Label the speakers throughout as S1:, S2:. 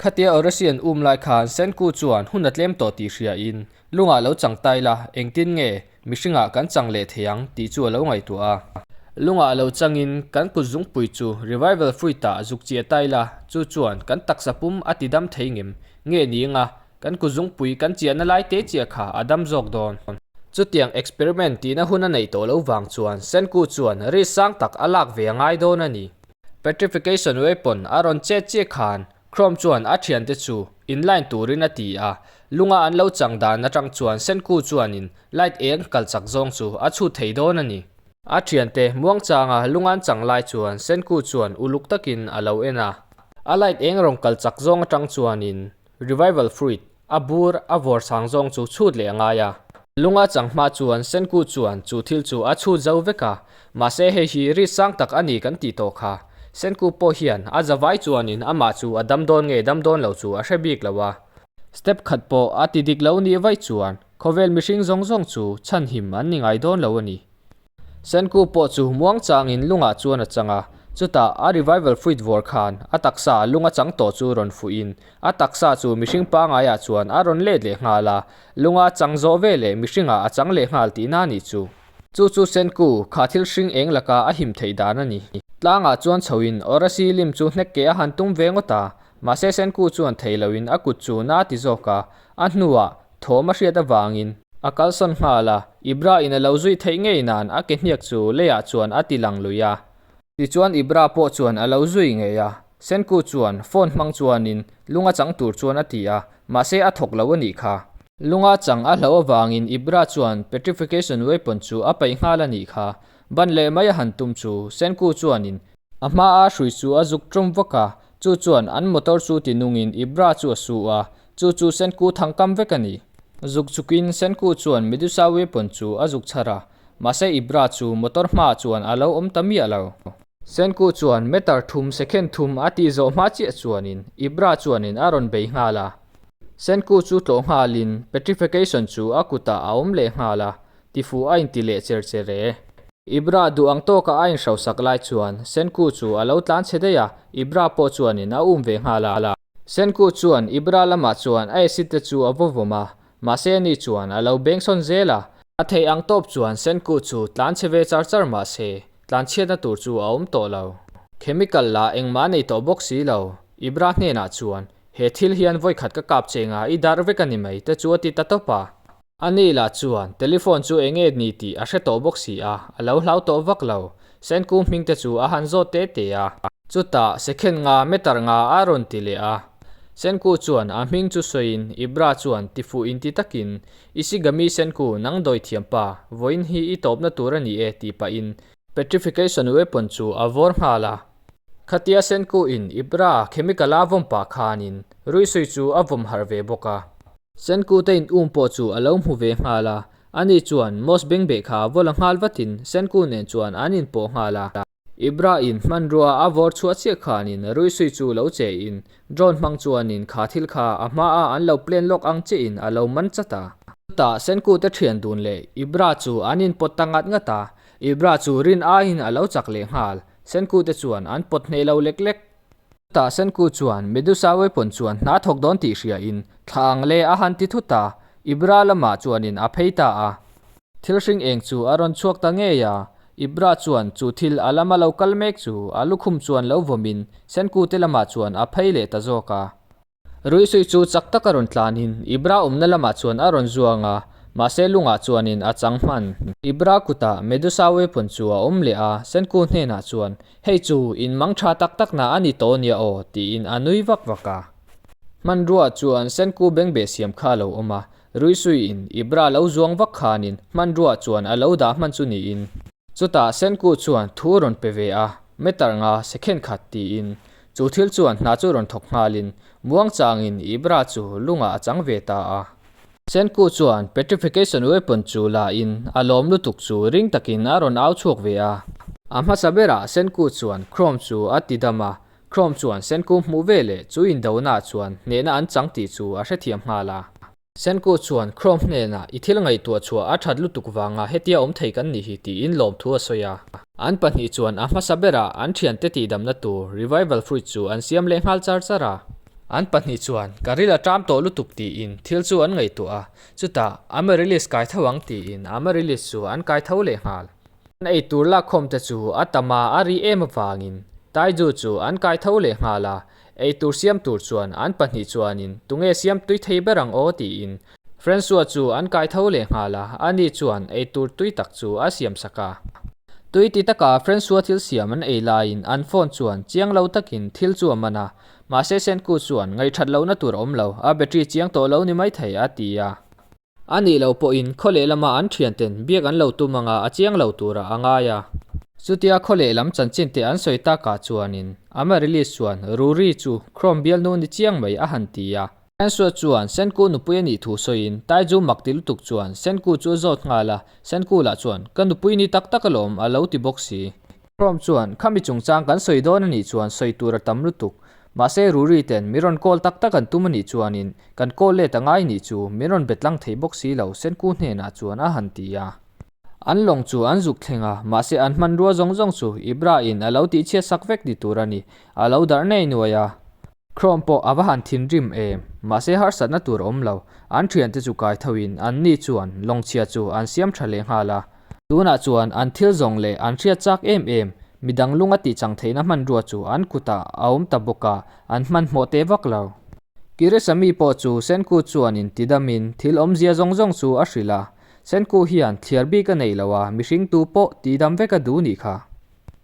S1: Khatia Orasi an um lai khan Senku chuan hun a tlem tawh tih hria in, Lungah lo chang ta ila, engtin nge mihringah kan chang leh thei ang tih chu a lo ngaihtuah a. Lungah a lo chang in kan kut zungpui chu Revival Fruit-ah zuk chi a ta ila, chu chuan kan taksa pum a tidam thei ngem nge ni anga Kan kut zungpui kan chiahna lai te chiah kha a dam zawk dawn. Chutiang experiment tihna hun a neih tawh lo vang chuan Senku chuan rit sang tak a lak ve a ngai dawn a ni. Petrification weapon a rawn chet chiah khan Chrome chuan a thiante chu in line turin a ti a. Lunga an lo chang dan atang chuan Senku chuanin light eng kal chak zawng chu a chhut thei dawn a ni. A thiante Muangchanga lunga an chang lai chuan Senku chuan uluk takin a lo en a. A light eng rawn kal chak zawng atang chuanin Revival fruit, a bur, a vawr sang zawng chu chhut leh a ngai a. Lunga chang hma chuan Senkut chuan chu thil chu a chhut zo vek a, mahse hei hi rit sang tak a ni kan tih tawh kha. Senkut pawh hian a zavai chuanin amah chu a dam dawn nge dam dawn lo chu a hre bik lo a. Step khat pawh a ti dik lo nih vaih chuan khawvel mihring zawng zawng chu chhan him an ni ngai dawn lo a ni. Senku pawh chu Muangchangin lungah chuan a chang a, chutah a revival fuit vawr khan a taksa lung a chang tawh chu rawn fuhin a taksa chu mihring pangaiah chuan a rawn let leh nghal a, lunga chang zawh ve leh mihringah a chang leh nghal tihna a nih chu. Chu chu Senku kha thil hring eng laka a him theih dan a ni. Tlangah chuan chhoin Orasi lim chu hnek ke a han tum ve ngawt a, mahse Senku chuan thei loin a kut chu na ti zawk a, a hnuah thawm a hriat avangin. A kalsawn nghal a, Ibra in a lo zuih theih ngei nan a kehniak chu leiah chuan a ti lang lui a. Tichuan Ibra pawh chuan a lo zui ngei a, Senku chuan phone hmang chuanin lung a chang tur chuan a ti a, mahse a thawk lo a nih kha. Lung a chang a hlo avangin Ibra chuan petrification weapon chu a paih nghal a nih kha, ban leh mai a han tum chu Senku chuanin A hmaa hrui chu a zuk ṭawm vak a, chu chuan an motor chu ti nungin i bra chu a suh a, chu chu Senku thang kam vek a ni. Zuk zukin Senku chuan Medusa weapon chu a zuk chhar a, mahse i bra chu motor hmaah chuan a lo awm ta miah lo. Senku chuan meter thum, second thum, a tih zawh hma chiah chuanin i bra chuanin a rawn bei nghal a. Senku chu tlawh nghalin petrification chu a kutah a awm leh nghal a, Tifu a inti leh cher cher e. I bra duh ang tawk a a in hrosak lai chuan Senku chu a lo tlan chhe daih a, i bra pawh chuanin a um ve nghal a. Senku chuan i bra lamah chuan a acid te chu a vawvawm a, mahse ani chuan a lo beng sawn zel a. A theih ang tawp chuan Senku chu tlan chhe ve char char mahse tlan chhiatna tur chu a awm tawh lo. Chemical la engmah nei tawh bawk si lo. I bra hnenah chuan, He thil hian vawikhat ka kap cheng a, i darh vek a ni mai te chu a ti ta tawp a. A ni lah chuan telephone chu eng nge ni tih a hre tawh bawk si a, a lo hlau tawh vak lo. Senku hming te chu a han zawt te te a. Chutah second nga meter nga a rawn ti leh a. Senku chuan a hming chu sawiin Ibra chuan tifuh inti takin, Ishigami Senku, nang dawi thiam pa, vawiin hi i tawpna tur a ni e tih pahin, petrification weapon chu a vawr nghal a. Khatia Senku in Ibra chemical a vawm pah khan in Ruisui chu a vawm harh ve bawk a. Senku te in um pawh chu a lo hmu ve nghal a, ani chuan Moss Bengbeh kha a vawla nghal vat in Senku nen chuan an in pawh nghal a. Ibra in hmanrua a vawr chhuah chiah khan in Ruisui chu lo che in Drone hmang chuan in kha thil kha a hma a an lo plan lawk ang che in a lo man chat a. Chutah Senku te thian dun leh Ibra chu an in pawt ta ngat ngat a, Ibra chu rin aiin a lo chak leh nghal. Senku te chuan an pawt hneh lo lek lek. Chutah Senku chuan Medusa weapon chuan hna thawk dawn tih hria in thla ang le a han ti thu ta. Ibra lamah chuanin a phei ta a. Thil hring eng chu a rawn chhuak ta ngei a. Ibra chuan chu thil a lam a lo kal mek chu a lukhum chuan lo vawmin Senku te lamah chuan a phei leh ta zawk a. Ruihsui chu chak taka rawn tlanin Ibra awmna lamah chuan a rawn zuang a, mahse lungah chuanin a chang hman. Ibra kutah Medusa weapon chu a awm leh a, Senku hnenah chuan, Hei chu in mang tha tak takna a ni tawh nia aw, tiin a nui vak vak a. Hmanruaa chuan Senku beng beh siam kha a lo awm a, Ruihsuiin Ibra lo zuang vak khanin hmanruaa chuan a lo dah hman chu niin. Chutah Senku chuan thu a rawn pe ve a, Meter nga, second khat, tiin Chu thil chuan hna chu rawn thawk nghalin Muangchangin i bra chu lungah a chang ve ta a. Senku chuan petrification weapon chu lahin a lawm lutuk chu ring takin a rawn au chhuak ve a. A hmasa berah Senku chuan Chrome chu a ti dam a, Chrome chuan Senku hmuh veleh chu indona chuan hnehna an chang tih chu a hrethiam nghal a. Senku chuan Chrome hnenah, I thil ngaihtuah chhuah a that lutuk vangah hetia awm thei kan nih hi tiin lawmthu a sawi a. An pahnih chuan a hmasa berah an thiante tihdamna tur Revival Fruit chu an siam leh nghal char char a. An pahnih chuan ka ril a ṭam tawh lutuk tiin thil chu an ngaihtuah a. Chutah Amaryllis kai tho ang tiin Amaryllis chu an kai tho leh nghal. An eitur lakkhawmte chu a tama a ri em avangin Taiju chu an kai tho leh nghal a, Eitur siam tur chuan an pahnih chuanin tunge siam tui thei ber ang aw tiin Francois chu an kai tho leh nghal a, ani chuan eitur tui tak chu a siam sak a. Tui ti taka Francois thil siam an ei laiin an phone chuan chiang lo takin thil chu a man a, mahse Senku chuan ngaithat lohna tur awm lo, a battery chiang tawh lo ni maithei a ti a. A nih loh pawhin khaw leh lama an thianten biak an lo tum anga a chiang lo tura a ngai a. Chutia khaw leh lam chanchinte an sawi takah chuanin ama release chuan Rurii chu Chrome bialnu ni chiang mai a han ti a. Senku chuan Senku nupui a nih thu sawiin Taizhu mak ti lutuk chuan Senku chu a zawt nghal a, Senku lah chuan ka nupui ni tak tak a lawm a lo ti bawk si. Prom chuan, Khami chungchang kan sawi dawn a nih chuan sawi tur a tam lutuk. Mahse, Ruri ten min rawn call tak tak an tum a nih chuanin, kan call let a ngai nih chu min rawn be tlang thei bawk si lo, Senku hnenah chuan a han ti a. An lawng chu an zuk thleng a, mahse an hmanrua zawng zawng chu Ibra-in a lo tihchhiatsak vek ni tur a ni, a lo darh nei nuai a. Chrome pawh a va han thinrim em, mahse harsatna tur a awm lo. An thiante chu kai thoin anni chuan lawngchhia chu an siam tha leh nghal a. Tunah chuan an thil zawng leh an hriatchak em em mi dang lunga tihchang theihna hmanrua chu an kutah a awm ta bawk a, an hmanhmawh teh vak lo. Kirisami pawh chu Senku chuan intidamin thil awmzia zawng zawng chu a hrilh a, Senku hian thliar bik a neih lo a, mihringtu pawh tihdam vek a duh nih kha.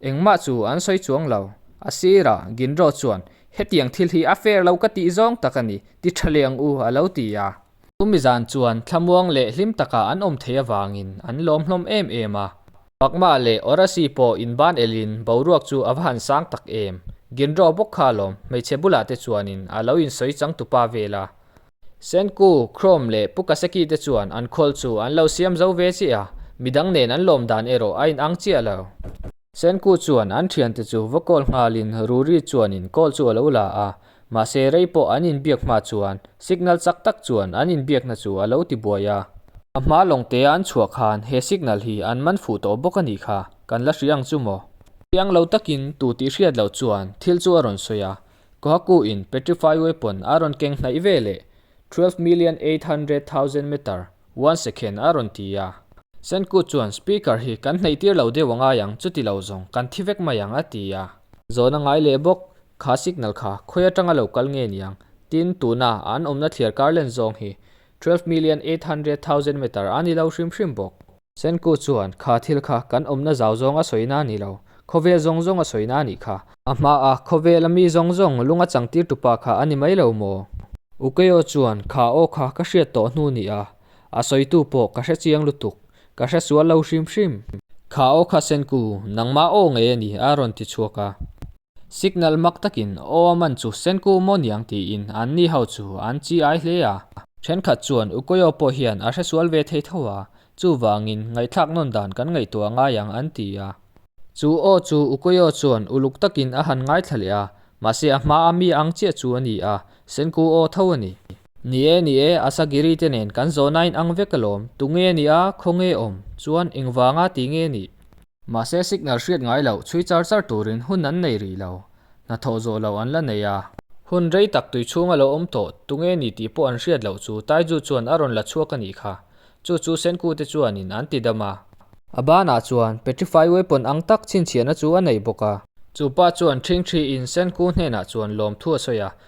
S1: Engmah chu an sawi chuang lo. A sirah Ginro chuan, Hetiang thil hi a fair lo ka tih zawng tak a ni, ti tha leng u, a lo ti a. Chumi zan chuan thlamuang leh hlim takah an awm thei avangin an lawm hlawm em em a. Pakma leh Orasi pawh in ban elhin boruak chu a va han sang tak em. Ginro bawk kha lawm, hmeichhe bulah te chuanin a lo insawi changtupa vel a. Senku, Chrome leh Pukaseki te chuan an call chu an lo siam zo ve chiah a, midang nen an lawm dan erawh a inang chiah lo. Senku chuan an thiante chu vawkawl nghalin Ruri chuanin call chu a lo la a, mahse rei pawh an inbiak hma chuan signal chak tak chuan an inbiakna chu a lo ti buai a. A hma lawngtea an chhuah khan he signal hi an man fuh tawh bawk a nih kha, kan la hria ang chu maw? Thiang lo takin tu tih hriat loh chuan thil chu a rawn sawi a, Kohakuhin petrify weapon a rawn keng hnaih ve leh twelve million eight hundred thousand metre one second a rawn ti a. Senkut chuan Speaker hi kan hnaih tir lo deuh a ngai ang, chuti lo zawng kan thi vek mai ang a ti a. Zawn a ngai leh bawk, kha signal kha khawi atanga lo kal nge niang, tin tuna an awmna thliar kar len zawng hi twelve million eight hundred thousand metre a ni lo hrim hrim bawk. Senku chuan, Kha thil kha kan awmna zau zawnga sawina a ni lo, khawvel zawng zawnga sawina a nih kha. A hma a, khawvela mi zawng zawng lunga changtir tupa kha a ni mai lo maw? U Keo chuan, Kha aw kha ka hriat tawh hnu ni a, a sawitu pawh ka hrechiang lutuk, ka hre sual lo hrim hrim. Kha aw kha Senku, nangmah aw ngei a ni a rawn ti chhuak a. Signal mak takin aw a man chu sen ku maw niang tiin an ni ho chu an chi ai hle a. Thenkhat chuan u Koyo pawh hian a hresual ve thei tho a, chuvangin ngaihthlak nawn dan kan ngaihtuah ngai ang an ti a. Chu aw chu u Koyo chuan uluk takin a han ngaithla leh a, mahse a hma a mi ang chiah chu a ni a, sen ku aw tho a ni. Ni e, ni e, Asagiri te nen kan zawhna a inang vek alawm, tunge nia, khawnge awm, chuan engvanga tinge nih? Mahse signal hriat ngai loh chhui char char turin hun an nei rih lo, hnathawh zawh lo an la nei a. Hun rei tak tui chhung a lo awm tawh, tunge ni tih pawh an hriat loh chu Taiju chuan a rawn la chhuak a nih kha. Chu chu Senku te chuanin an ti dam a. A banah chuan petrify weapon ang tak chhinchhiahna chu a nei bawk a. Chu pa chuan thingthi in Senku hnenah chuan lawmthu a sawi a,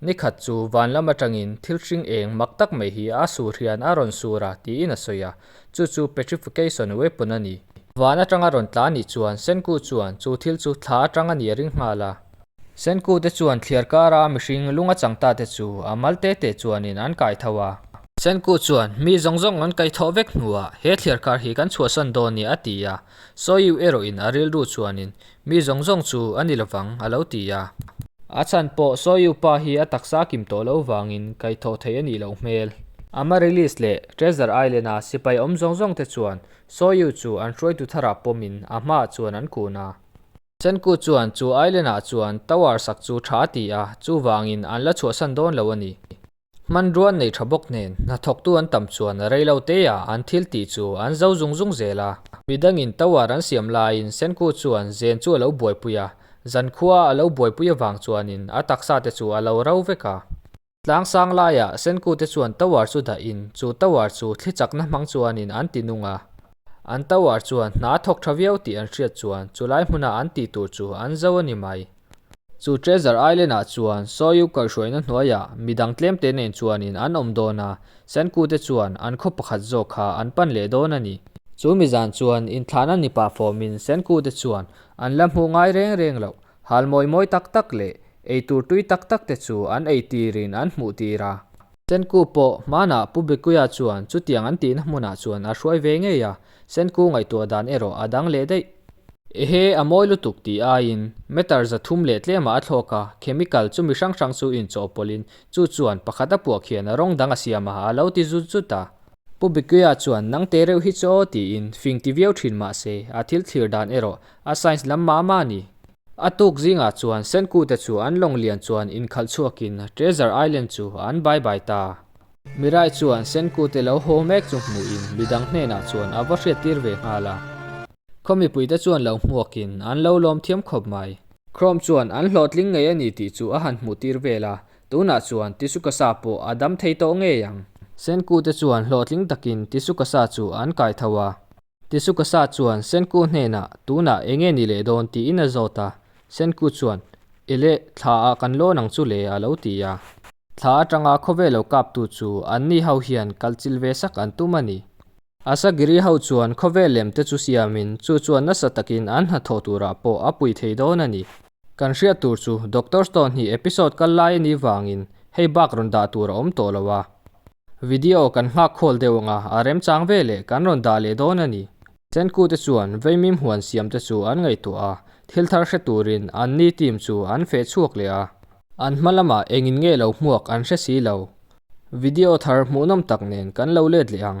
S1: Ni khat chu van lam atangin thil hring eng mak tak mai hi a sur hian a rawn sur a tiin a sawi a, chu chu petrification weapon a ni. Van atang a rawn tla a nih chuan Senku chuan chu thil chu thla atang a nih a ring nghal a. Senku te chuan thliar kara mihring lunga chang ta te chu a mal te te chuanin an kai tho a. Senku chuan mi zawng zawng an kaithawh vek hnuah he thliar kar hi kan chhuahsan dawn nia a ti a. Sawiu erawh in a rilru chuanin, Mi zawng zawng chu a ni lovang, a lo ti a. A chhan pawh Sawiu pa hi a taksa kim tawh loh vangin kaihthawh theih a nih loh hmel. Amaryllis leh Treasure Island-a sipai awm zawng zawng te chuan Sawiu chu an hruaitu tharah pawmin a hmaah chuan an kun a. Chanku chuan chu island-ah chuan tower sak chu tha a ti a, chuvangin an la chhuahsan dawn lo a ni. Hmanruan nei tha bawk nen, hnathawktu an tam chuan a rei lo te a, an thil tih chu an zo zung zung zel a. Midangin tower an siam laiin Senku chuan zen chu a lo buaipui a, zan khua a lo buaipui avang chuanin a taksa te chu a lo rau vek a. Tlang sang laiah Senku te chuan tower chu dahin chu tower chu thli chakna hmang chuanin an ti nung a, an tower chuan hna a thawk tha viau tih an hriat chuan chulai hmuna an tih tur chu an zo a ni mai. Chu Treasure Island-ah chuan Soyou kaihhruaina hnuaia mi dang tlemte nen chuanin an awm dawn a, Sankute chuan an khaw pakhat zawk kha an pan leh dawn a ni. Chu mi zan chuan inthlahna nipa fawmin Sankute chuan an la hmuh ngai reng reng lo, hal mawi mawi tak tak leh ei tur tui tak tak te chu an ei tirin an hmuh tir a. Senku pawh hmanah Pu Bikuya chuan chutiang an tihna hmunah chuan a hruai ve ngei a, Senku ngaihtuah dan erawh a dang leh daih. Ehe, a mawi lutuk ti aiin meter za thum leh tlemah a thlawk a, chemical chu mi hrang hrang chu inchawh pawlhin chu chuan pakhat a puak hian rawng dang a siam a, a lo ti zut zut a. Pu Bikuya chuan nang te reuh hi chaw tiin fing ti viau thin mahse a thil thlir dan erawh a science lam mah mah a ni. A tuk zingah chuan Senkute chu an lawng lian chuan inkhalh chhuakin Treasure Island chu an bye bye ta a. Mirai chuan Senkute lo haw mek chu hmuhin midang hnenah chuan a va hriat tir ve nghal a. Khawmipui te chuan lo hmuakin an lo lawm thiam khawp mai. Chrome chuan an hlawhtling ngei a ni tih chu a han hmuh tir vel a, tunah chuan Tisukasa pawh a dam thei tawh ngei ang. Senkute chuan hlawhtling takin Tisukasa chu an kai tho a. Tisukasa chuan Senku hnenah, Tunah eng nge ni leh dawn? tiin a zawt a, Senku chuan, Ele, thla ah kan lawn ang chu le, a lo ti a. Thla atanga khawvel lo kaptu chu anni ho hian kalchil ve sak an tum a ni. Asagiri ho chuan khawvel lem te chu siamin, chu chuan nasa takin an hnathawh turah pawh a pui thei dawn a ni. Kan hriat tur chu Doctor Stone hi episode kal lai ani vangin hei bak rawn dah tur a awm tawh lo a. Video kan nghak khawl deuh anga a remchang ve leh kan rawn dah leh dawn ani. Senkuu te chuan veimim huan siam te chu an ngaihtuah a, thil thar hre turin an ni team chu an feh chhuak leh a. An hma lama engin nge lo hmuak an hre si lo. Video thar hmuhnawm tak nen kan lo let leh ang.